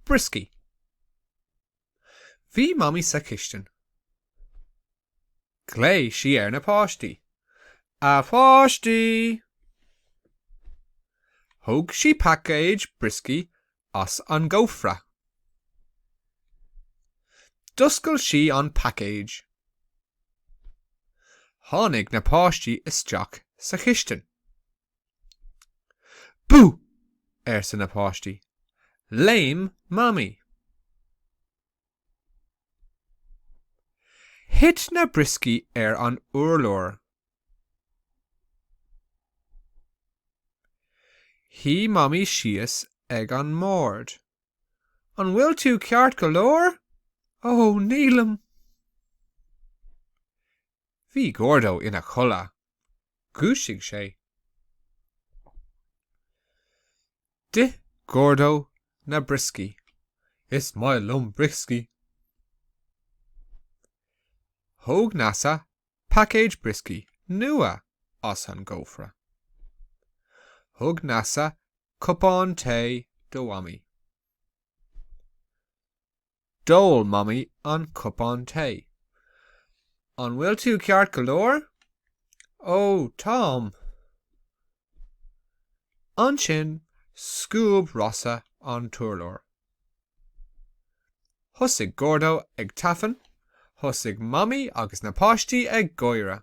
Brioscaí. Bhí Mamaí sa chistin. Ghlaoigh sí ar na páistí. A pháistí! Thóg sí paicéad brioscaí as an gcófra. D'oscail sí an paicéad. Tháinig na páistí isteach sa chistin. Bú! arsa na páistí. Léim Mamaí. Thit na brioscaí ar an urlár. Shuigh Mamaí síos ag an mbord. An bhfuil tú ceart go leor? Ó, nílim. Bhí Gordo ina chodladh. Dhúisigh sé. D'ith Gordo na brioscaí. Is maith liom brioscaí. Thóg Neasa paicéad brioscaí nua as an gcófra. Thug Neasa cupán tae do Mhamaí. D'ól Mamaí an cupán tae. An bhfuil tú ceart go leor? Ó, táim. Ansin scuab Rossa an t-urlár. Thosaigh Gordo ag tafann, thosaigh Mamaí agus na páistí ag gáire.